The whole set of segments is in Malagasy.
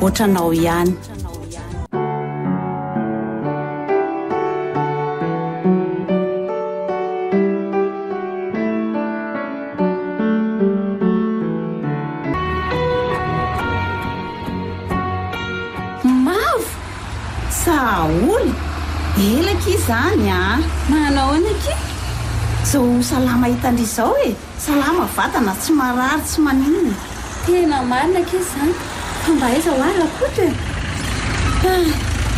otranao ihany. Ela akia zany a! Manao ahoana akia? Zao salama hitandrizao e! Salama vatana, tsy marary, tsy maninona. Tena marina akia izany. Fa mba aiza hoa ry Rakoto e? Hah!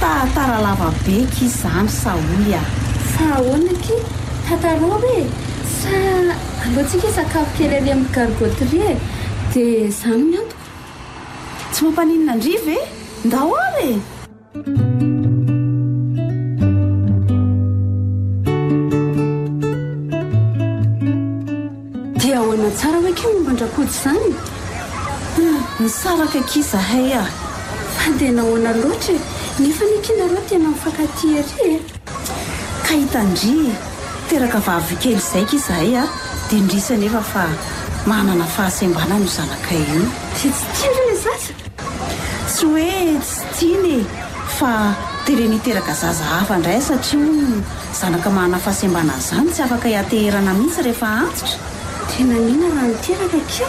Tahatara lava be akia izany sa hoy ah. Fa ahoana akia? Tantarao hoe? Sa aleontsika hisakafo kely ary amin'ny gargoterie e? Dia izany ny antoko. Tsy mampaninona an-dry ve? Ndao ary e! Dia ahoana tsara hoy ky momba an-dRakoto izany? Nisaraka akia izahay a! Fa dia nahoana loatra e? Nefa anie ky nareo tena mifankatia ery e! Ka hitandria e! Teraka vavy kely izay ky izahay a! Dia indrisy anefa fa manana fahasembanana io zanakay io. Dia tsy tia re ilay zaza? Tsy hoe tsy tiany e, fa tereny hiteraka zaza hafa indray satria hono zanaka manana fahasembana an'izany tsy afaka ianteherana mihitsy rehefa antitra. Tena mihina raha niteraka akia.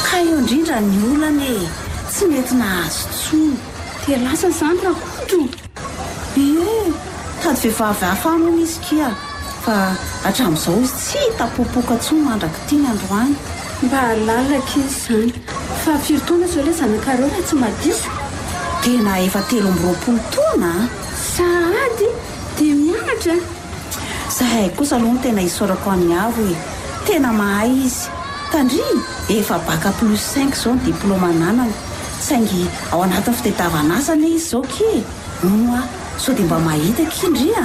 Ka eo indrindra ny olana e, tsy mety nahazo intsony. Dia lasa izany rakotro. Ie! Tady vehivavy hafa any hono izy kia fa hatramin'izao izy tsy hita popoka tsony mandrak'i Tiana androany. Mba hahalala akia izany fa firy taona izao ilay zanakareo raha tsy mahadiso? Tena efa telo amby roapolo taona a! Sahady dia mianatra a! Zahay kosa aloha no tena isaorako an'i Avo e! Tena mahay izy. Tandrimo, efa bac plus cinq izao ny diplaoma ananany. Saingy ao anatin'ny fitadiavan'asa anie izy izao ki! Moa sao dia mba mahita ki ndry a!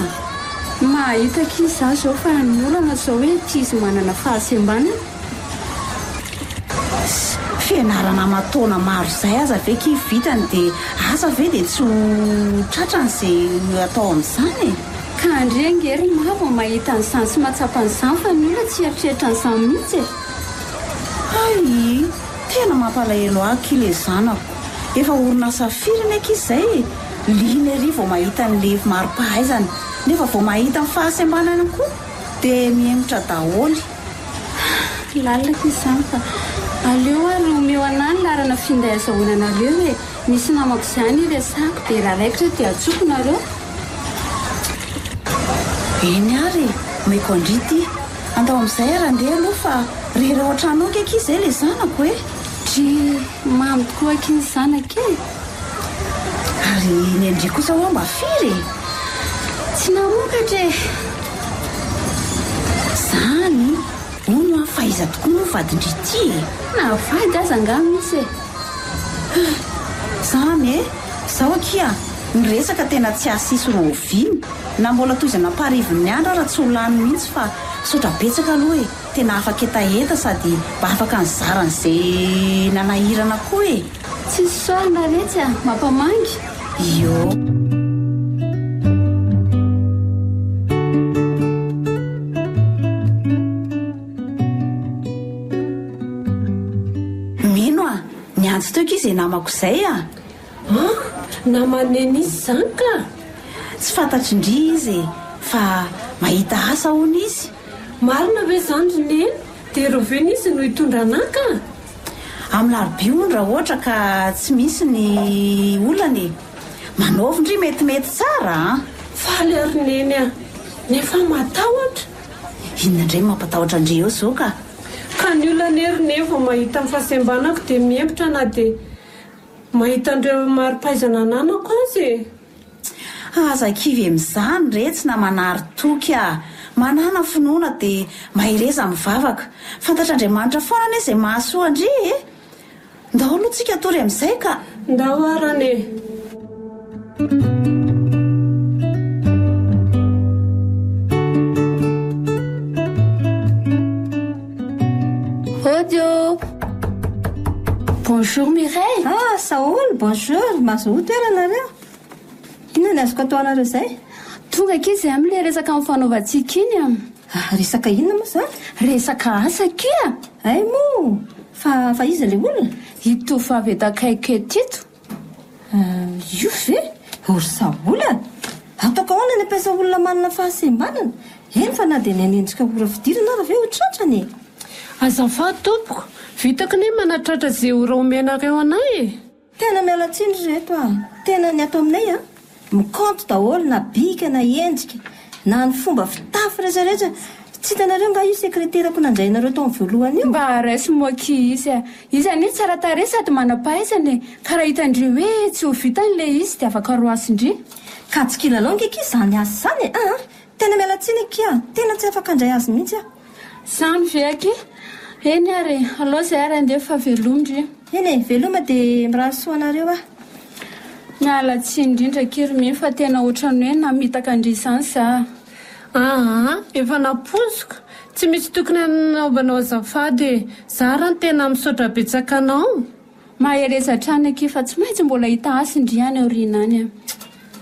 Mahita ki izaho izao fa ny olana izao hoe tsy izy manana fahasembanana. Sy fianarana aman-taona maro izay aza ve ki vitany dia asa ve dia tsy ho tratrany izay atao amin'izany e! Ka ndry ange ry ma vao mahita an'izany sy mahatsapa an'izany fa ny olona tsy hieritreritra an'izany mihitsy e! Hay! Tena mampalahelo aky ilay zanako. Efa orinasa firy ny ankizy izay e? Liana ery vao mahita ny levy mari-pahaizana nefa vao mahita ny fahasembanana koa dia mihemotra daholo. Ah! Tsy lalina aky izany fa aleo ary omeo anah ny laharana finday azahoana anareo e! Misy namako izany iresako dia raha raikitra dia atsoko nareo. Eny ary e! Omeko an-dry ity. Andao amizay ary andeha aloha fa re ireo antrano ok akia zay le zanako e! Dry mamy tokoa akia ny zanaka e! Ary ny an-dry kosa hoa mba firy e! Tsy namokatra e! Zany hono hoa fa iza tokoa moa vadin-dry ty e! Na vady aza angaha misy e! Zany e! Zao akia miresaka tena tsy asisy roviana! Na mbola tohizana am-parivony ny andro ara tsy ho lany mihitsy fa misaotra betsaka aloha e! Tena afaka hetaheta sady mba afaka nizara an'izay nanahirana koa e! Tsy sosary mba retsy a! Mampamangy! Ioo. Mino a! Niantso teo ki zay namako zay a! An! Naman'e mihitsy izany ka! Tsy fantatr'i Ndry izy e! Fa mahita asa hono izy! Marina ve izany ry Neny? Dia ireo ve izy no hitondra anah ka? Amin'ny larobia hono raha ohatra ka tsy misy ny olana e! Manaovy ndry metimety tsara an! Faly aho ry Neny a! Nefa matahotra! Inona indray no mampatahotra an-dry eo izao ka? Ka ny olana anie ry Neny vao mahita ny fahasembanako dia mihempotra na dia. Mahita an'ireo mari-pahaizana ananako azy e! Fa aza kivy amin'izany re tsy namanary toky a! Manàna finoana dia mahereza mivavaka. Fantatr'Andriamanitra foana anie izay mahasoa an-dry e! Ndao aloha tsika hatory amin'izay ka! Ndao arany e! Bonjour Mireille. Ah, Saoul, bonjour. Mazoa toerana nareo. Inona ny azoko atao anareo izay? Tonga akia izay amin'ilay resaka amin'ny fanaovantsika iny. Ah, resaka inona moa izany? Resaka asa akia. Hay moa, fa fa iza ilay olona? Ito vavy eto akaiky eto ito. Ah, io ve? Horisabolana? Ataoko ahoana ny ampiasa olona manana fahasembanana? Eny fa na dia ny an'ny endrika ora fidirana ary ve ho tratrany e? Azafady tompoko, vitako ny manatratra izay ora omenareo anay e! Tena miala tsiny ry reto a! Tena ny ato aminay an! Mikaonty daholo na bika na endrika na ny fomba fitafy rehetra rehetra tsy hitanareo nga io sekreterako nanjainareo tamin'ny voalohany io? Mba raiso moa ki izy a! Izy anie tsara tarehy sady manam-pahaizana e! Ka raha hitan-dry hoe tsy ho vitany le izy de afaka roasin-dry. Kajy kilalao nge ki zany asa zany e! Aa! Tena miala tsiny akia, tena tsy afaka handray azy mihitsy aho. Zany ve aky? Eny ary e, alao zay ary andeha fa veloma ndry. Eny e, veloma dia mirary soa anareo aho. Miala tsiny indrindra aky ry Mino fa tena ohatran'ny hoe namitaka ndry izany za. Aa, efa nampoiziko, tsy misy tokony hanaovanao azafady e. Za ra ny tena misaotra betsaka anao. Mahereza hatrany akia fa tsy maintsy mbola hita hasy ndry any aoriana any a.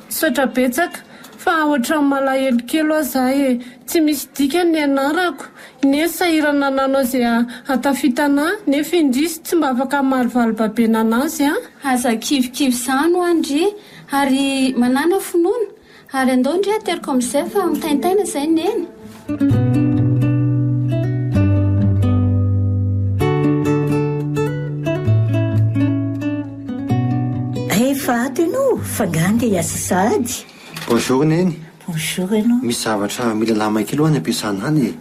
Misaotra betsaka fa ohatran'ny malahelo kely hoa za e! Tsy misy dikany ny anarako, ine sahirana nanao ze ahatafita anà nefa indrisy tsy mba afaka hamaly valibabena anazy an! Aza kivikivy zany hoa ndry ary manàna finoana Ary andao ndry ateriko amin'izay fa mitaintaina izay Neny. Efa ato ianao fa nga nge hiasa sahady? Bonjour Neny. Bonjour ianao. Misy zavatra mila alamina kely hoa any am-piasana any e.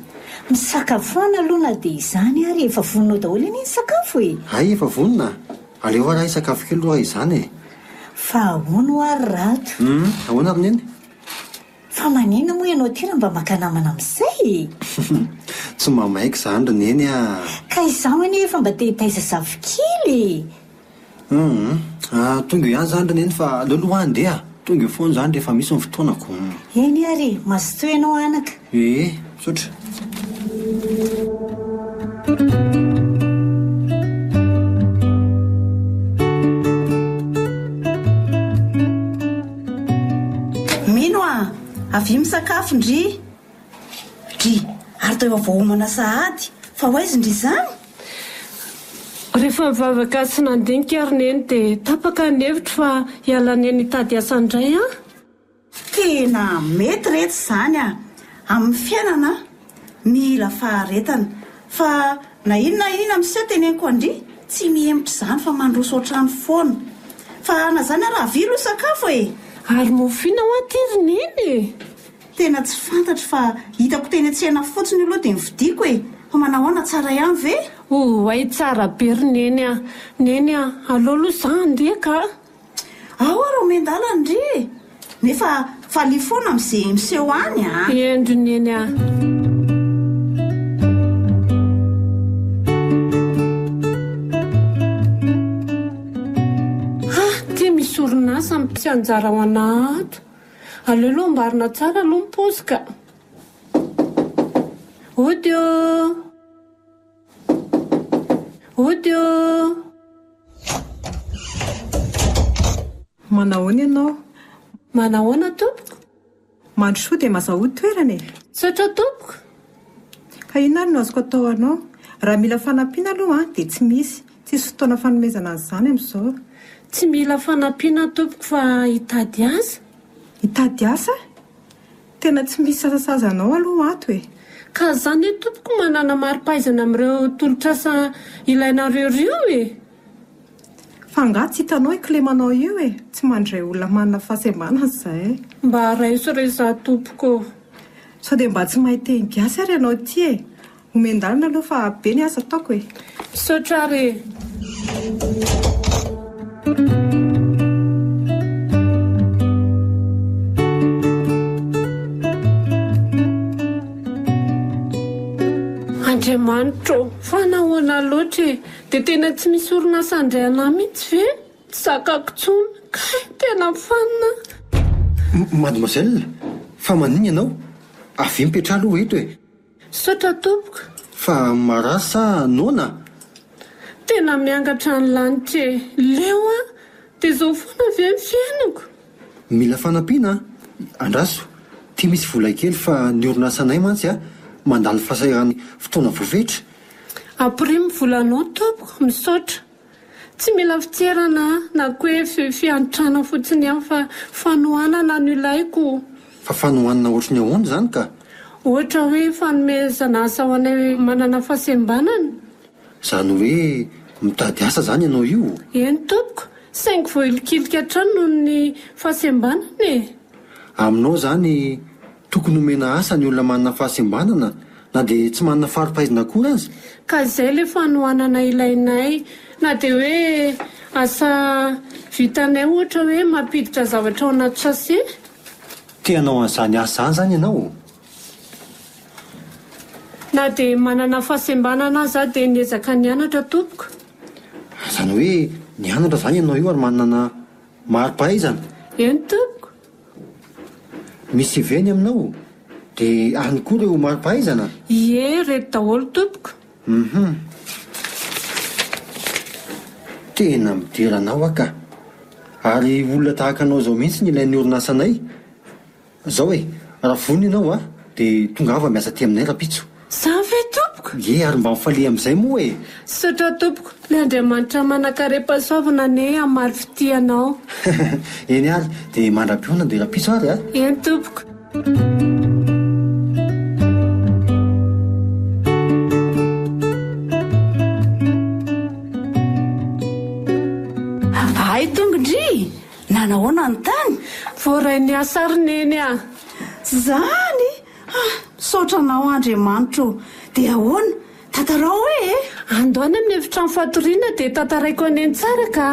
Misakafoana aloha na dia izany ary efa vononao daholo anie ny sakafo e! Hay efa vonona. Aleo hoa raha hisakafo kely aloha raha izany e. Fa ahoana hoa ry Rado? Hum, ahoana ry Neny? Fa manina moa ianao ity raha mba maka namana amin'izay e! Tsy mba maika izany ry Neny ah! Ka izaho anie efa mba te hitaiza zafikely e! Hum, ah, tonga eo ihany izany ry Neny fa aleo aloha hoa andeha ah! Tonga eo foana izany rehefa misy ny fotoanako. Eny ary, mazotoa ianao anaka. Ee, misaotra. Mino a! Avia misakafo ndry! Dry, ary teo vao homana sahady fa ho aizy ndry izany? Rehefa nivavaka sy nandinika ry Neny dia tapaka ny hevitro fa hiala ny any hitady asa indray aho. Tena mety re tsy izany a! Amin'ny fiainana mila faharetana fa na inn na inn miseho teneniko andry tsy mihemotra izany fa mandroso otrany foana fa na izany ara avia aloha sakafo e! Ary mofo inn hoa ty ry neny e! Tena tsy fantatro fa hitako teny an-tsena fotsiny io aloha dia novidiako e! Fa manahoana tsara ihany ve? Oay tsara be ry neny a! Neny a! Aleo aloha za handeha ka! Aoa ry omen-dalana ndry e! Nefa faly foana amin'izay miseho any a! Hendry neny a! orinasa ny tsy anjara ao ana ato. Aleo aloha amboarina tsara aloha ny paozy ka. Audio. Hody o! Manahoana ianao? Manahoana tompoko? Mandrosoa dia mazao hody toerana e! Misaotra tompoko! Ka inona ary no azoko atao ho anao? Raha mila fanampiana aloha dia tsy misy, tsisy fotoana fanomezana an'izany amin'izao. Tsy mila fanampiana tompoko fa hitady asa. Hitady asa? Tena tsy misy sasasazanao aloha ato e! Ka za ne tompoko manana maripaizana amin'ireo tolotr'asa ilainareo reo e! Fa angaha tsy hitanao i Clément-nao io e! Tsy mandray olona manana fahasembanana za e! Mba raiso re za tompoko ô! Sao dia mba tsy mahay teny gasy ary ianao ity e! Homen-dalina aloha fa be ny asa ataoko e! Misaotra ary e! Andriamanitra ô! Fa nahoana loatra e! Dia tena tsy misy orinasa handray anà mihitsy ve? Tsy zakako intsony. Kay! Tena fanina aho! Mademoiselle, fa maninona ianao? Avia mipetraha aloha eto e! Misaotra tompoko. Fa marary sa noana a? Tena miangatra ny lanitra e! Leo a! Dia izao foana ve ny fiainako? Mila fanampiana a! Andraso! Ity misy vola kely fa ny orinasanay mantsy a, mandalo fasahiran'ny fotoana voafetra. Ampirimo ny volanao tompoko. Misaotra. Tsy mila fitserana na koa hoe fi, fiantrana fotsiny ihany fa fanohanana no ilaiko. Fa fanohanana ohatry ny ahoana izany ka? Ohatra hoe fanomezana asa ho anay manana fahasembanana. Izany hoe mitady asa izany ianao io? Eny tompoko, saingy voahilikilika hatrany noho ny fahasembanana e! Aminao izany, Tokony omena asa ny olona manana fahasembanana na dia tsy manana fari-pahaizana akory aza. Ka izay le fanohanana ilainay. Na dia hoe asa vitanay ohatra hoe mampiditra zavatra ao anaty sachet. Te hanao an'izany asa izany izany ianao? Na dia manana fahasembanana aza dia niezaka nianatra tompoko. Izany hoe nianatra izany ianao io ary manana mari-pahaizana? Eny tompoko. Misy CV ny aminao? Dia any koa ireo mari-pahaizana? Ie, reto daholo tompoko. Hum. Tena midera anao aho ka. Ary olona tahaka anao izao mihitsy no ilain'ny orinasanay. Izao e, raha vonona ianao dia tongava miasa aty aminay rahampitso. Zany ve tompoko? Ye ary mba mifalia amin'izay moa e! Misaotra tompoko, le Andriamanitra manankarem-pahasoavana anie hamaly fitia anao. Eny ary, dia mandra-pionona dia rahampitso ary a! Eny tompoko. Hay tongondry! Nanahoana ny tany? Voarain'ny hasary Neny a! Zany! Ha! Misaotra anao Andriamanitro ô! Dia ahoana? Tantarao hoe e! Ando any amin'ny efitrano fatoriana dia tantaraiko any eny tsara ka!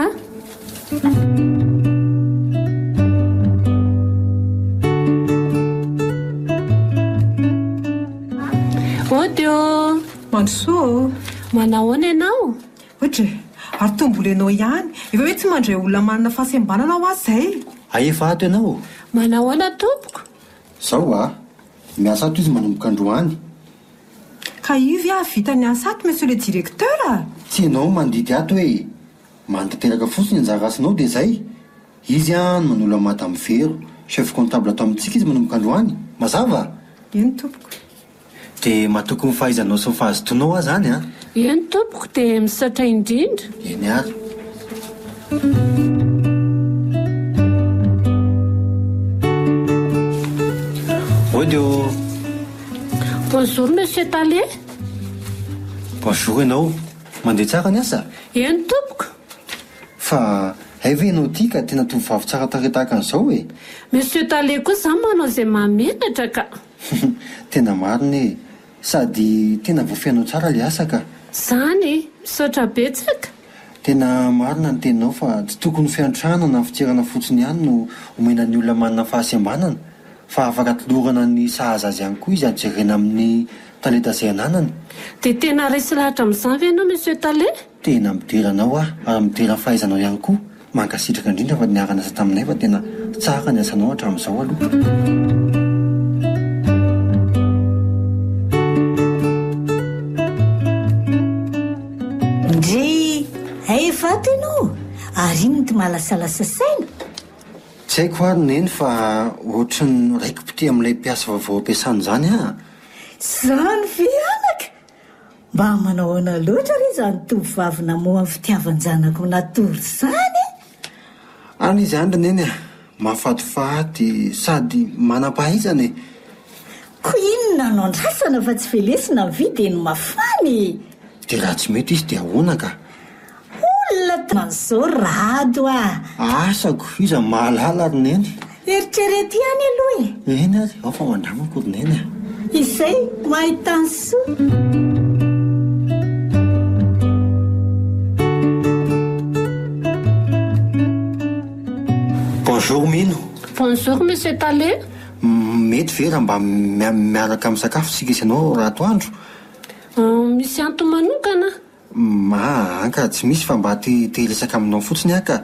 Ody ô! Mandrosoa ô! Manahoana ianao? Ody e! Ary toa mbola ianao ihany! Efa hoe tsy mandray olona manana fahasembanana hoa izay! Ahefa ato ianao ô! Manahoana tompoko? Zao wa! Miasa ato izy manomboka androany. Ka io ve hahavita ny asa ato monsieur le directeur a! Tsy ianao no mandidy ato e! Manatanteraka fotsiny anjara asanao dia zay! Izy an no manolo an'i madame Vero, chef comptable ato amintsika izy manomboka androany! Mazava? Eny tompoko. Dia matoky ny fahaizanao sy ny fahazotoanao aho izany an! Eny tompoko, dia misaotra indrindra! Eny ary. Mody ô! Bonjour Monsieur Tale! Bonjour ianao! Mandeha tsara ny asa? Eny tompoko! Fa hay ve ianao ity ka tena tovovavy tsara tarehy tahaka an'izao e! Monsieur Tale koa izany manao izay mahamenatra ka! Humm tena marina e! Sady tena voafehinao tsara le asa ka! Zany e! Misaotra betsaka! Tena marina ny teninao fa tsy tokony ho fiantrana na fitsirana fotsiny ihany no omena ny olona manana fahasembanana fa afaka atolorana ny sahaza azy ihany koa izy ary jerena amin'ny talenta izay ananany. Dia tena resy lahatra amin'izany ve ianao Monsieur Tale? Tena midera anao aho ary midera ny fahaizanao ihany koa. Mankasitraka indrindra fa niara niasa taminay fa tena tsara ny asanao hatramin'izao aloha. Ndrii, hay vato ianao? Ary inn ity malasalasa saina? Tsy haiko ary neny fa ohatran'ny raiki-pitia amin'ilay mpiasa vaovao ampiasana izany aho. Izany ve anaka? Mba manahoana loatra re izany tovovavy namoha ny fitiavan-janako natory izany e! Any izany ry Neny a! Mahafatifaty sady manam-pahaizana e! Koa inona no andrasana fa tsy velesina ny vy dia ny mafana e! Dia raha tsy mety izy dia ahoana ka? Olona taona izao ry Rado ah! Asako, iza mahalala ry Neny? Eritrereto ihany aloha e! Eny ary, ao fa ho andramako ry Neny ah! Izay ho ahy tany soa! Bonjour Mino. Bonjour Monsieur Tale. Mety ve raha mba miaraka misakafo isika sy ianao raha atoandro? Misy antony manokana? Maa an ka tsy misy fa mba te te hiresaka aminao fotsiny aho ka.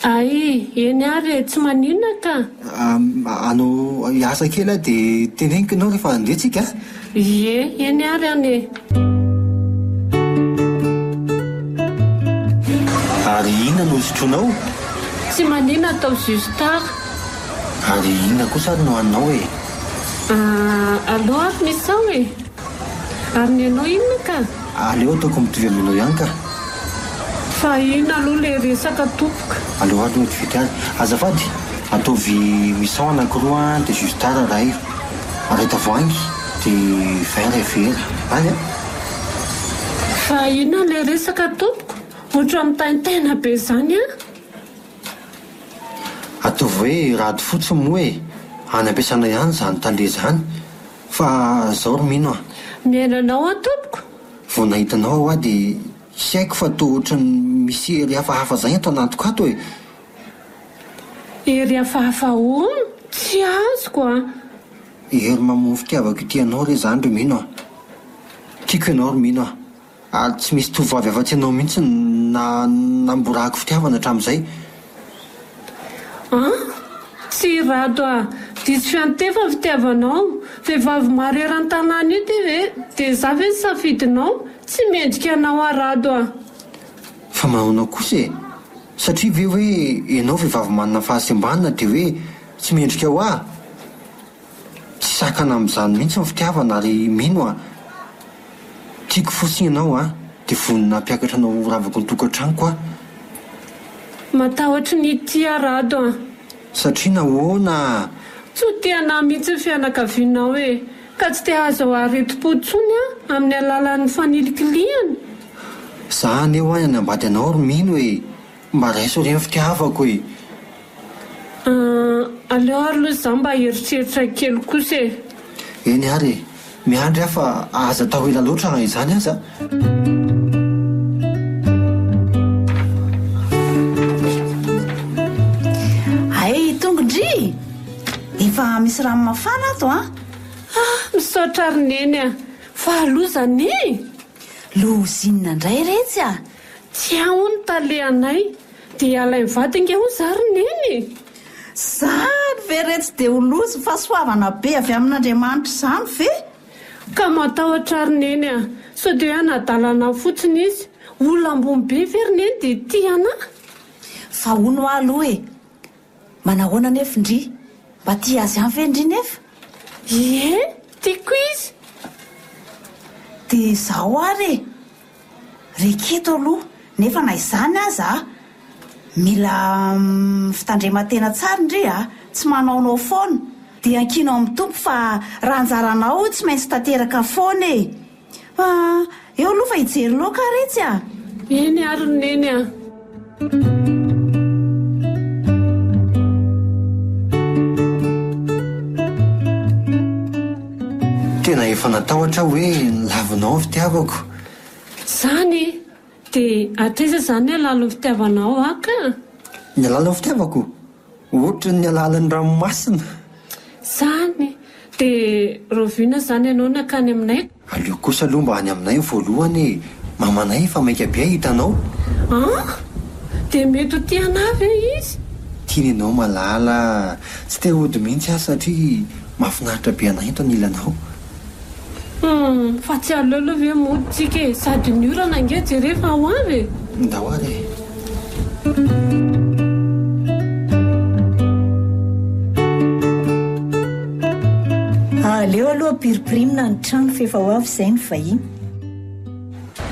Ay, eny ary e, tsy maninona ka. Aa anao hiasa kely aho dia teneniko ianao rehefa handeha tsika a. Ie, eny ary an e. Ary inona no hosotroinao? Tsy maninona atao jus tara. Ary inona kosa ary no haninao e? Aa aleo ary misao e. Ary ny anao inona ka? Aleo ataoko mitovy aminao ihany ka! Fa inona aloha ilay resaka tompoko? Aleo ato mety vita ary. Azafady, ataovy misao anakiroa dia jus tara ray, ray tavoahangy, dia vin ray vera. Ray a! Fa inona ilay resaka tompoko? Ohatran'ny mitaintaina be izany an! Ataovy hoe rado fotsiny moa e! Any am-piasana ihany izany tale izany Fa zao ry mino a! Mihaino anao an tompoko! Vao nahita anao aho wa dia tsy haiko fa toa ohatran'ny misy hery hafahafa zay ato anatiko ato e! Hery hafahafa ahoana? Tsy azoko an! Hery mamoa fitiavako ity anao re zany ry mino a! Tiako ianao ry mino a! Ary tsy misy tovovavy afa-tsy ianao mihitsy no namborahako fitiavana hatramin'izay. An! tsy i Rado a! diso fiantefa ny fitiavanao. Vehivavy maro eran-tanàna io ty ve? Dia za ve ny safidinao? Tsy mendrika anao aho Rado a! Fa manaonao kosa e! satria ve hoe ianao vehivavy manana fahasembanana dia hoe tsy mendrika ho ahy? Tsy sakana amin'izany mihitsy ny fitiavana ary mino aho tiako fotsiny ianao a! Dia vonona hampiakatra anao ho ravako ny tokantranoko aho. Matahotry ny hitia Rado an! Satria nahoana a? Tsy ho tia anà mihitsy ny fianakavianao e! Ka tsy te hahazo aretim-po intsony aho amin'ny alalan'ny fanilikilihana? Za haneho ahy hanambady anao ry Mino e! Mba raiso re ny fitiavako e! Ahh, aleo ary loha za mba hieritreritra kely kosa e! Eny ary e! Miandry aho fa aza atao ela loatra na izany aza! Hay i Tongo ndry! Efa misy rano mafana ato an! Ah, misaotra ary Neny a! Fa loza anie e! Lozinina ndray retsy a! Tsy ao ny tale anay dia alainy vady ange hoy za ry neny e! Zany ve re tsy dia ho loza fahasoavana be avy amin'Andriamanitra izany ve? Ka matahotra aho ry neny a! Sao dia hoe hanadala anah fotsiny izy? Olona ambony be ve ry neny dia tia anah? Fa hono hoa aloha e! Manahoana anefa ndry? Mba tia azy ihany ve ndry nefa? Ie, tiako izy! Dia izaho ary e! Reketo aloha nefa na izany aza a! Mila fitandreman-tena tsara ndry a! Tsy manaonao foana! Dia ankino amin'ny Tompo fa raha anjaranao io tsy maintsy tanteraka foana e! Fa eo aloha fa hijery loka ary itsy a! Eny ary Neny a! Tena efa natahotra aho hoe lavinao ny fitiavako. Izany e! Dia hatraiza izany ny halalin'ny fitiavanao ahy ka? Ny halalin'ny fitiavako? Ohatry ny alalan'ny ranomasina. Zany! De Rovina zany ianao nankany aminay? Aleo kosa aloha mba any aminay voalohany e! Mamanay efa maika be hahita anao. An! De mety ho tia anah ve izy? Tiany ianao malala a! Tsy te hody mihitsy aho satria mahafinaritra be anah eto ny hilanao. Humm fa tsy aleo aloha ve mody tsika e sady ny orana ange jereo fa ho avy e. Ndao ary e. Aleo aloha ampirimpirimina ny trano fa efa ho avy izay ny vahiny.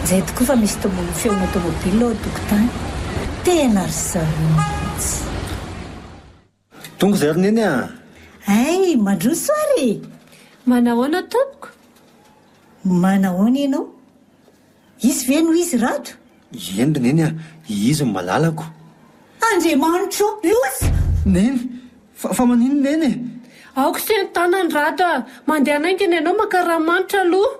Zay tokoa fa misy tombon'ny feona tomobil ao an-tokotany. Tena ry zareo mihitsy. Tonga izay ry Neny a! Hey! Mandroso ary e! Manahoana tompoko? Manahoana ianao? Izy ve no izy rato? Eny ry Neny a! Izy no malalako. Andriamanitra o! Loza! Neny! Fa fa maninona Neny e? Aoka se ny tanany rato a! Mandehana haingana ianao maka ranomanitra aloha.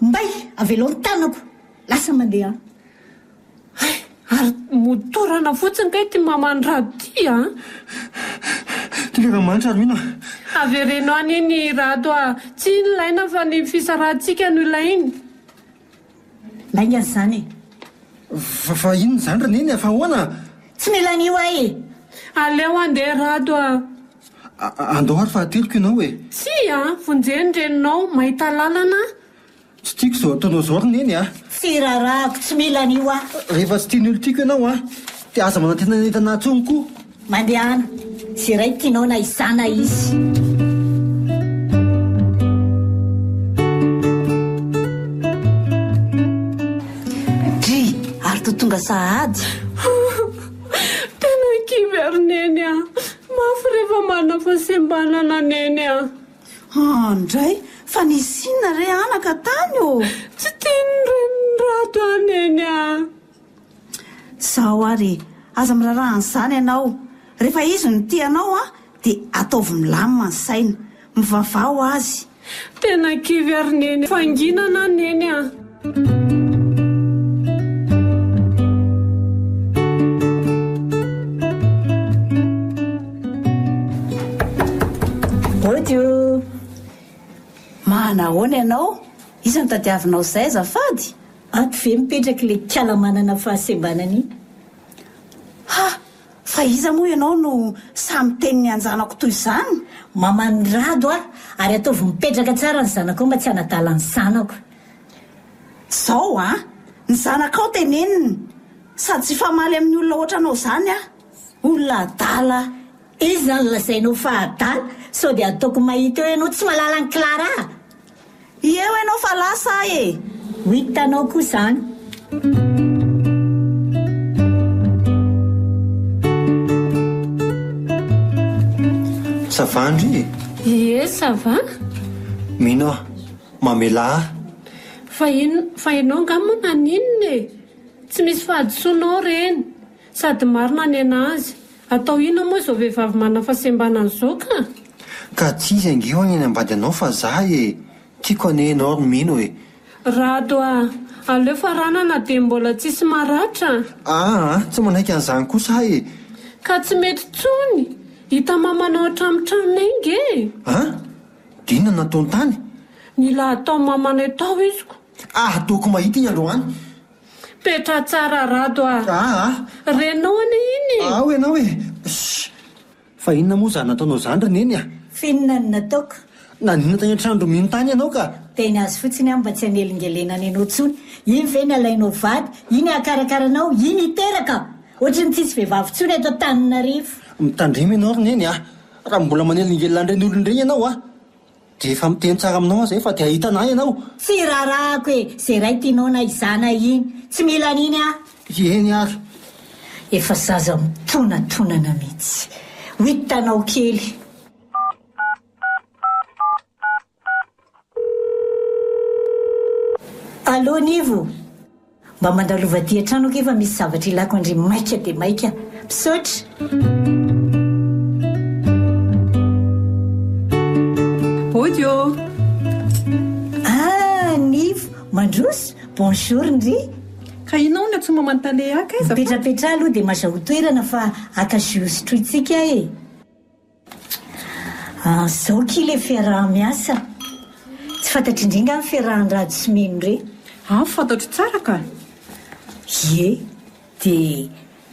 Mbay! Avelao ny tanako! Lasa mandeha an! Hay! Ary motorana fotsiny kay ity maman'i Rado ity a! Tonga ka manitra ary mino a! Avereno any iny i Rado a! Tsy iny ilaina fa ny fisarahantsika no ilaina! Lainga izany e! Fa fa inona izany ry Neny a! Fa ahoana a! Tsy mila an'io ahy e! Aleo handeha Rado a! A, andao ary fa hateliko ianao e! Tsia a! Vonjeo ny reninao mahita lalana a! Tsy tiako izao ataonao izao ry Neny ah! Tsy rarahako, tsy mila an'io aho. Rehefa tsy tian'ny olon-tiako ianao an! Dia aza manantenanentana ahy intsony koa! Mandehana, izay iray tianao na izaho na izy. to tonga sahady tena kivy ary neny a mafy rehefa manafasem-banana neny a Haa ndray fa nisy inona re anaka tany ô? Tsy tian'ny renirato ahy neny ah. Zaho ary e! Aza miraraha an'izany ianao. Rehefa izy no tia anao an, dia ataovy milamina ny saina. Mivavaha ho azy. Tena kivy ary neny. Fanginana aho neny ah. Audio, Mahana ahoana ianao? Iza no tadiavinao izay azafady? Ato ve mipetraka ilay kala manana fahasembanana iny? Ha! Fa iza moa ianao no sahy miteny ny anjanako toy izany? Maman'i Rado aho ary ataovy mipetraka tsara ny zanakao mba tsy hanadala ny zanako. Zao a! Ny zanakao teneniny! Sady tsy hifamaly amin'ny olona ohatranao zany aho! Olona adala! Iza izany lazainao fa adala? Sao dia ataoko mahita eo ianao tsy mahalala an'i Clara a! Eo ianao fa lasa aho e! Ho hitanao koa izany! Ça va Andry e? Ie ça va. Mino aho, mamelà ahy. Fa inn fa enao nga mo naninona e? Tsy misy fahadisoana ao reny. Sady marina ny anazy. Atao inona moa izao vehivavy manana fahasembanana izao ka? Ka tsy izy ange hono eny ambady anao fa za e! Tiako anie enao ry mino e! Rado a! Aleo faranana dia mbola tsisy maratra. Aa! Tsy manaiky an'izany kosa aho e! Ka tsy mety tsony! Hita mamanao hatramin'ny tranonay nge e! An! Dina nataony tany? Mila atao maman etao iziko. Aha toako mahita iny androany. Petraha tsara Rado ah. Ah ah. Renao anie iny e. Ao ianao e. Shh. Fa inona moa zany nataonao zany ry neny ah. F'inona no nataoko? Naninona tany an-trano ry mino tany ianao ka. Teny azy fotsiny aho mba tsy hanelingelena ny anao tsony. Iny ve ny alainao vady, iny hakarakara anao, iny hiteraka? Ohatry ny tsisy vehivavy tsony eto Antananarivo. Mitandrema ianao ry neny ah. Raha mbola manelingelina an'ireny olona ireny ianao a, dia efa miteny tsara aminao aho izay fa dia hahita anah ianao. Tsy raharahako e, ze ray tinao na izana iny, tsy mila an'iny aho. Eny ary. Efa zaza mitonatonana mitsy. Ho hitanao kely. Allo Nivo! Mba mandalova aty an-trano akia fa misy zavatra ilako an-dry maika dia maika. Misaotra! Audio. Ah, Nivo, mandroso, bonjour ndry. Ka ianao no tsy mamantale haka aiza fa. Mipetrapetraha aloha dia mazahoa toerana fa haka jus sotrointsika e. Zao akia ilay fiaraha-miasa. Tsy fantatr' indry nga ny fiarahan'i Rado sy Mino re? An, fantatro tsara ka! Ie, dia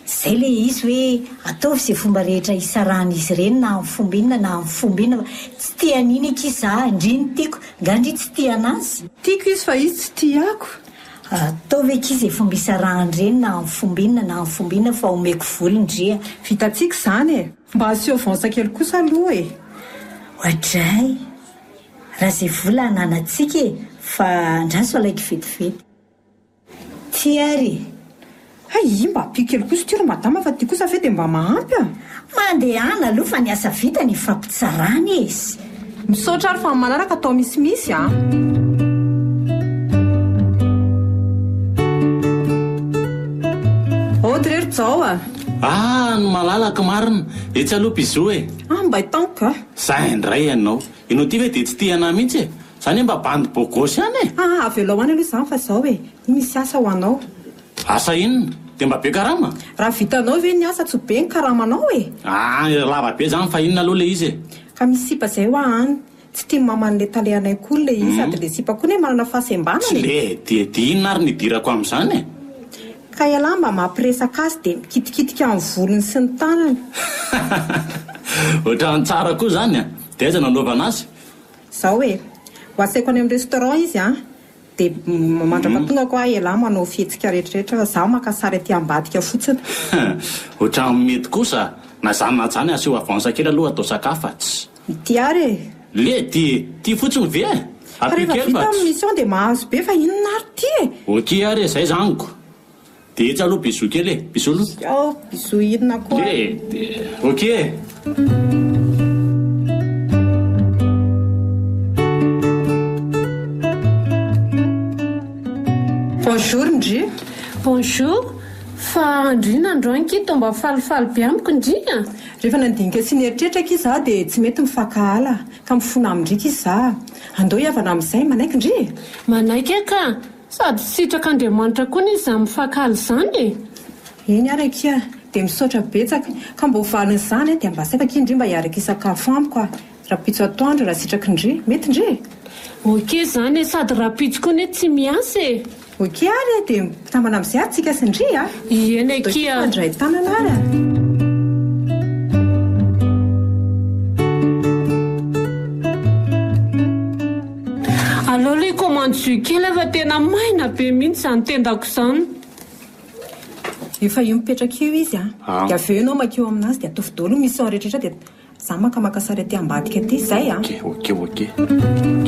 zay ilay izy hoe ataovy izay fomba rehetra hisarahan'izy ireny na amin'ny fomba inona na amin'ny fomba inona fa tsy tia an'iny akia za, ndry ny tiako, nga ndry tsy tia anazy? Tiako izy fa izy tsy tia ako. Ataovy akia izay fomba hisarahan'ireny na amin'ny fomba inona na amin'ny fomba inona fa omeko vola ndry a! Vitantsika izany e! Mba asio avance kely kosa aloha e. Oadray! Raha ze vola ananatsika e fa andraso alay kivetivety. Ty ary e. Hay i mba apio kely kosa ty ry madama fa ty kosa ve de mba mahampy a. Mandehana aloha fa ny asa vitany ifampitsarana izy. Misaotra ary fa manaraka atao misimisy a. zao a Ah, ny malalaka marina. Etsy aloha Pizou e. Ah, mba hitanko a. Za indray ianao. Ianao ty ve dia tsy tia anahy mihitsy e. Za anie mba bandy beau gosse ihany e. Ah, avelao any aloha izany fa zao e. Misy asa ho anao. Asa inona? Dia mba be karama? Raha vitanao ve ny asa tsy ho be ny karamanao e! Aah ery lava be zany fa inona aloha le izy e! Ka misy sipa zay hoa any. Tsy tian'i maman' ilay tale anay koa ilay izy sady ilay sipa koa anie manana fahasembanana e! Tsleh! Dia dia inona ary ny idirako amin'izany e! Ka ialahy mba mampiresaka azy dia mikitikitika ny volony sy ny tanany. Otrany tsara koa zany a! Dia aiza no anaovana azy? Zao e! Ho asaiko any amin'ny restaurant izy an! Dia mandrapa tonga koa ialahy manao fihetsika rehetrarehetra fa za maka sary aty ambadika fotsiny. Ohatran'ny mety kosa. Na zany na zany asio avance kely aloha atao sakafa tsy. Ity ary e. Le de ty fotsiny ve? Fa rehefa vita ny mission dia mahazo be fa inona ary ty e? Ok ary e, zay zany ko. Dia etsy aloha bisous kely e! Bisous aloha! Ciao! Bisous inona koa? Le dia ok e! Bonjour ndry! Bonjour! Fa andry inona ndry hoy ankia toa mba falifaly be amiko ndry a! Rehefa nandinika sy nieritreritra akia izaho dia tsy mety mifankahala ka mifona amin-dry akia izaho. Andao hihavana amin'izay, manaiky ndry e! Manaiky aho ka! Sady sitrak'Andriamanitra koa anie izany mifakala izany e! Eny ary akia, dia misaotra betsaka. Ka mba ho valin'izany dia mba asaiko akia ndry mba hiaraka hisakafo amiko a! Rahampitso atoandro rahasitraky ndry. Mety ndry e! Ok izany e! Sady rahampitso koa anie tsy miasa e! Ok ary e! Dia mpikambana amin'izay ary tsika sy ndry a! Eny akia! Dôkio mpandray tanana ary a! Aleo aloha hikomandy jus kely aho fa tena maina be mihitsy izany tendako izany. Efa eo mipetraka eo izy an, dia avy eo ianao makeo aminazy dia ataovy daholo ny mission rehetra rehetra dia za maka maka sary aty ambadika aty, zay an. Ok ok ok ok.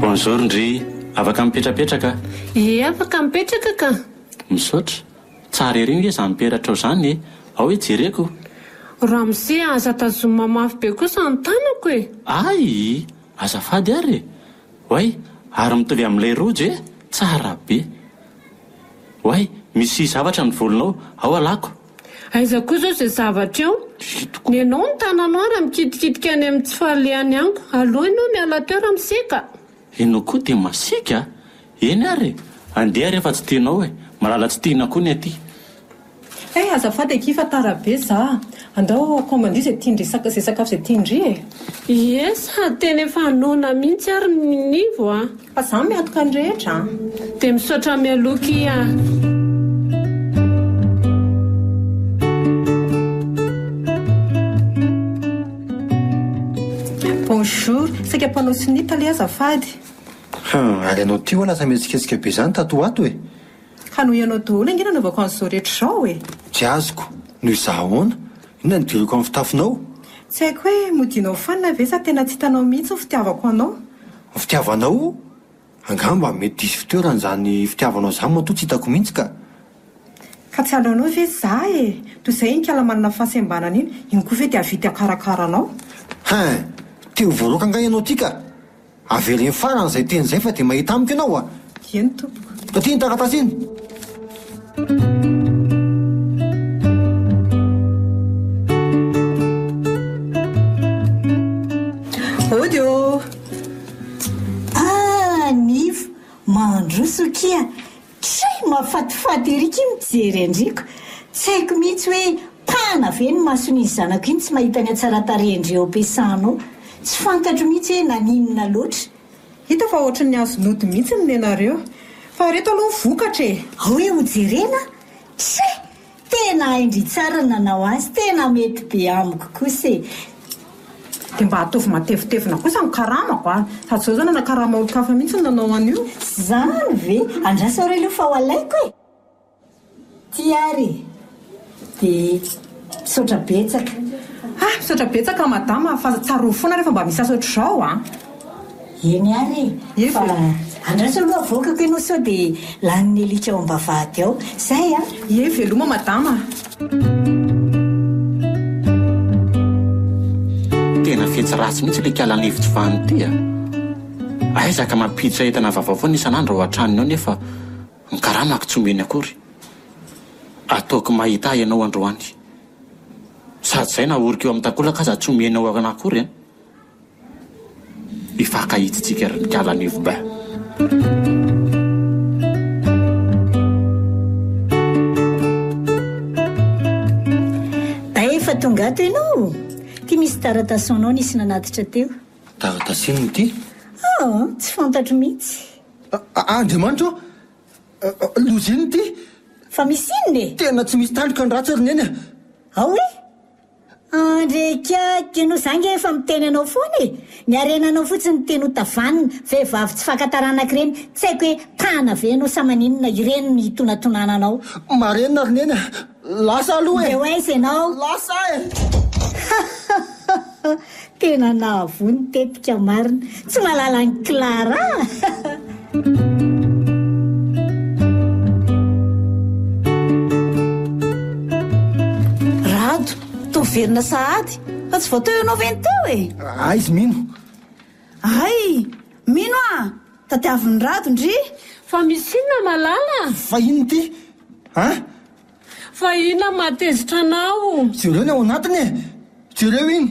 Bonjour ndry, afaka mipetrapetraka? Ie afaka mipetraka ka. Misaotra. Tsara ery nge zany peratrao zany e! Ao e jereko! Ramose a! Aza tazomina mafy be kosa ny tanako e! Ayii! Azafady ary e! Oay! Ary mitovy amin'ilay rojo e! Tsara be! Oay! Misy zavatra ny volonao! Ao alako! Aiza koa izao izay zavatra eo? Nenao ny tananao ary mikitikitika any amin'ny tsy fahalehan'ny anko! Aleo ianao miala teo Ramose ka! Enao koa dia masiaka a! Eny ary e! Andeha re fa tsy tianao e! Malala tsy tiana koa ny aty. Hey, azafady akia fa tara be za. Andao commande izay tian-dry izay sakafo izay tian-dry e! Ie, sady tena efa noana mihitsy ary ny nivo a! Fa za miatoka ny rehetra a! Dia misaotra mialoha akia a! Bonjour, saika mpanao sonia tale azafady. Hum, ary ianao ity hoa lasa mihetsiketsika be izany tato ho ato e! Fa noho ianao daholo ange nanaovako an'izao rehetra izao e! Tsy azoko, noho izaho ahoana? Inona no diriako amin'ny fitafinao? Tsy haiko hoe modianao fanina ve sa tena tsy hitanao mihitsy ny fitiavako anao? Ny fitiavanao? Angamba mety diso fitoerana izany fitiavanao izany matoa tsy hitako mihitsy ka! Fa tsy halaonao ve za e! Toy izay iny kala manana fahasembanana iny, iny koa ve dia havia ty hakarakara anao? Hein! Te ho voaroaka angaha ianao ty ka! Avela hiafarany izay teny izay fa dia mahita amiko ianao a! Dieny tompoko. Taty iny taratasy iny! Hody ô! Ah Nivo mandroso akia try mafatifaty ery akia mijery andriko tsy haiko mihitsy hoe pana ve ny mason'izy zanako iny tsy mahita ny hatsaratarihandry Eopesano tsy fantatro mihitsy hoe naninona loatra Hita fa ohatry ny azo nody mihitsy ny nenareo. Fa reto aloha ny vokatra e! Ao hoe hojerena a! Try! Tena hain-dry tsara ny nanao azy, tena mety be amiko kosa e! Dia mba ataovy matevitevina kosa ny karamako an! Sady izao izao nanakarama olon-kafa mihitsy ny nanao an'io. Zany ve? Andraso re aloha fa ho alaiko e! Ty ary dia misaotra betsaka. Ah, misaotra betsaka madama fa tsarovy foana rehefa mba misasa ohatr'izao an! Eny ary e! Fa andraso aloha avokako ianao sao dia lanin'ny alika ao am-bavahady ao. Izay an! Ie, veloma madama a! Tena fetsy ratsy mihitsy ilay kala lefitry Vano ity a! Aiza ka mampiditra entana vaovao foana isan'andro ao an-tranony ao nefa ny karamako tsy omeny akory. Ataoko mahita ahy ianao androany. Sady izay nahoriko eo amin'ny takolaka aza tsy omenao akory an! Hifankahitsitsika ry Mikala Anivo Bain. Bain efa tonga ato ianao ô! Ity misy taratasy ho anao nisy nanatitra teo. Taratasy inona ity? Oh, tsy fantatro mihitsy. A- a- Andriamanitra ô! A- a- Loza inona ity? Fa misy inona e? Tena tsy misy tandroka ny ratsy ry Neny a! Ao e! Andry kiaky, no za nge efa miteny anao foana e! Ny harenanao fotsiny no tianao tavanina, vehivavy tsy faka taranaka ireny, tsy haiko hoe tana ve ianao sa maninona, ireny no hitonatonana anao. Marina ry neny a! Lasa aloha e! Ndeha ho aiza ianao? Lasa e! Hahahahha! Tena nahavoa ny tetika marina. Tsy malala an'i Clara a! Rado, toa velona sahady fa tsy vao teo ianao ve no teo e? Aiz mino. Hay! Mino a! Tadiavin'i Rado ndry! Fa misy inona malala? Vahiny ity a! Fa inona no mahatezitra anao? Jereo ny ao anatiny e! Jereo iny!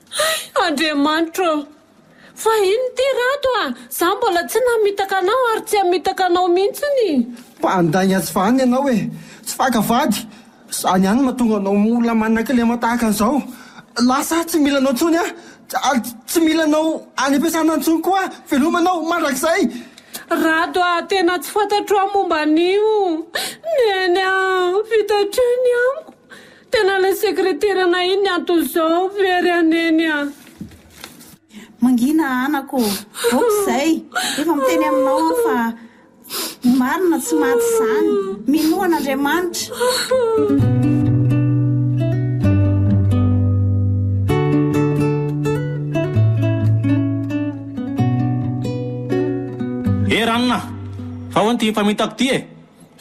Hay! Andriamanitra ô! Fa inona ity Rado a! Za mbola tsy namitaka anao ary tsy hamitaka anao mihitsiny! Mpandainga tsy vanona ianao e! Tsy faka vady! Izany ihany no mahatonga anao mora manakilema tahaka an'izao! Lasa aho tsy mila anao intsony a! Tsy mila anao any am-piasana intsony koa aho. Veloma anao mandrakizay. Rado a! Tena tsy fantatro aho momba an'io. Neny a! Vita hatrany amiko. Tena ilay sekreteranay iny ny anton'izao. Very aho Neny a! Mangina anako ô! Aoka izay. Efa miteny aminao aho fa. Ny marina tsy maty izany. Minoa an'Andriamanitra. Eh ranona a! Fa ahoana ity famitako ity e?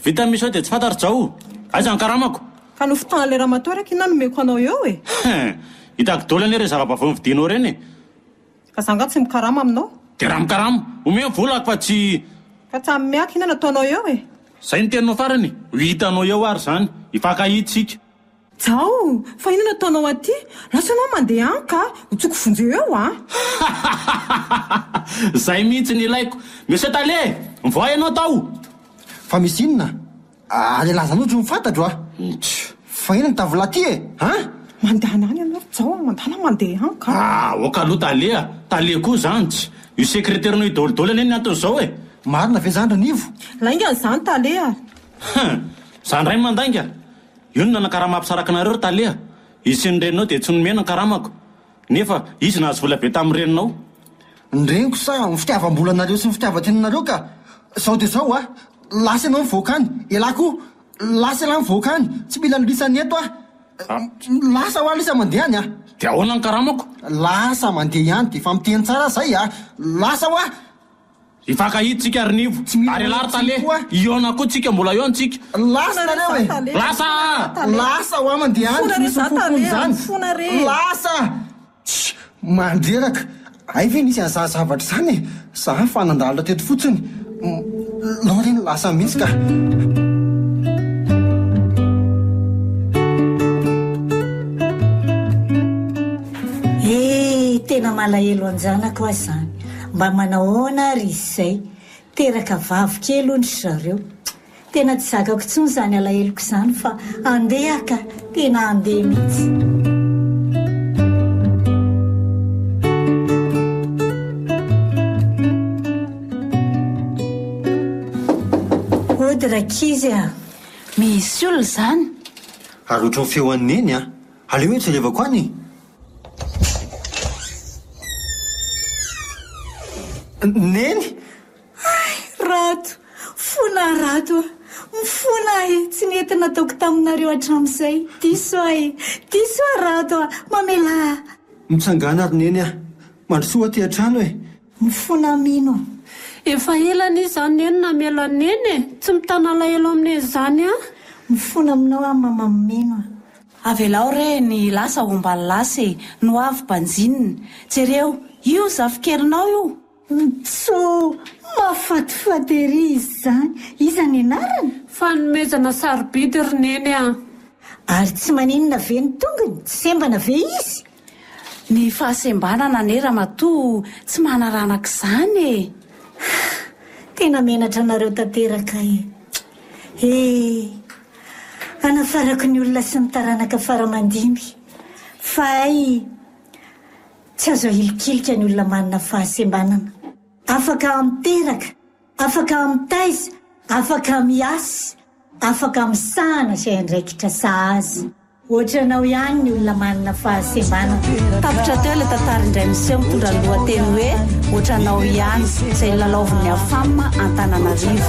Vita ny mission dia tsy fantatro Jao! Aiza ny karamako? Fa nofintahan'ilay ramatoa ary aky na nomeko anao eo e! Hein! Hitako daholo anie ireny zava-baovao novidinao ireny e! Fa za nga tsy mikarama aminao? Dia raha mikarama, omeo vola ako fa tsy. Fa tsy amin'ny ato inona no ataonao eo e? Zay no teninao farany e! Ho hitanao eo ary zany! Hifankahita isika! Jao! Fa inona no ataonao aty? Lasa ianao mandeha any ka! Ho tsoiko vonjeo eo a! Zay mihitsy no ilaiko! Monsieur Tale! Mivoaha ianao tao! Fa misy inona? Ary laza anao jo ny fantatro a! Ntsy! Fa inona ny tavolà ty e? An! Mandehana any ianao ry Jao a! Mandà na mandeha any ka! Aoka aloha Tale a! Tale koa izany ntsy! Io sekreterinao io daholodaolo anie ny antony izao e! Marina ve izany Ranivo? Lainga an'izany Tale a! Hum! Za indray mandainga! Io no nanakaramam-pisaraka anareo ry Tale a! Hisian'ny reninao dia tsy nomena ny karamako! Nefa izy nahazo vola be tamin'ny reninao. Ny reniko sa ny fitiavam-bolanareo sy ny fitiavan-tenanareo ka! Zao dia zao a! Lasa ianao mivoaka any! Elah koa! Lasa elah mivoaka any! Tsy mila lisa ny eto aho! Lasa hoa lisa mandeha any a! Dia ahoana ny karamako? Lasa mandeha ihany, dia efa miteny tsara aho izay a! Lasa hoa! Hifankahidy tsika ry Nivo. Ary ialahy ry Tale. Hihaona koa tsika. Mbola eo ny tsika. Lasa nareo e! Lasa a! Lasa ho aman dia any tsy misy ho fofony zany. Lasa! Tsia! Mandreraka! Hay ve nisy an'izany zavatra izany e! Za fa nandalina teto fotsiny. Loreen lasa mihitsy ka. He! Tena malahelo an-janako aho izany. Mba manahoana ary izy izay? Teraka vavy kely hono ry zareo. Tena tsy zakako intsony izany alaheloko izany fa andeha ka! Tena andeha mihitsy. Hody rankizy a! Misy olona izany? Ary ohatran'ny feon'i Neny an! Aleo hoe jerevako any e! Neny! Hay! Rato! Fona Rato a! Mifona aho e! Tsy nety nataoko taminareo hatramin'izay! Diso aho e! Diso aho Rato a! Mamelà aho! Mitsangàna ry Neny a! Mandrosoa aty an-trano e! Mifona mino. Efa ela anie zah neny namelo an'i neny e! Tsy mitana alahelo amin'i neny zany ah! Mifona aminao aho mama mino a! Avelao re ny lasa ho mba lasa e! Ny ho avy banjinina! Jereo! Io zafikelinao io! Mitsou! Mahafatifaty ery izany! Iza ny anarana? Fanomezana sarobidy ry neny ah! Ary tsy maninona ve ny tongony? Tsy sembana ve izy? Ny fahasembanana anie ramatoa tsy manaranaka izany e! Hah! Tena menatra anareo tanteraka e! He! Hanafarako ny olona sy ny taranaka fara aman-dimby fa hay tsy azo ahilikilika ny olona manana fahasembanana. Afaka miteraka. Afaka mitaiza, afaka miasa, afaka misahana izay andraikitra saha azy. Ohatranao ihany ny olona manana fahasembanana. Tapitra teo ilay tantara indray miseho mitondra ny lohateny hoe Ohatranao ihany, izay nilalaovin'ny Afam Antananarivo.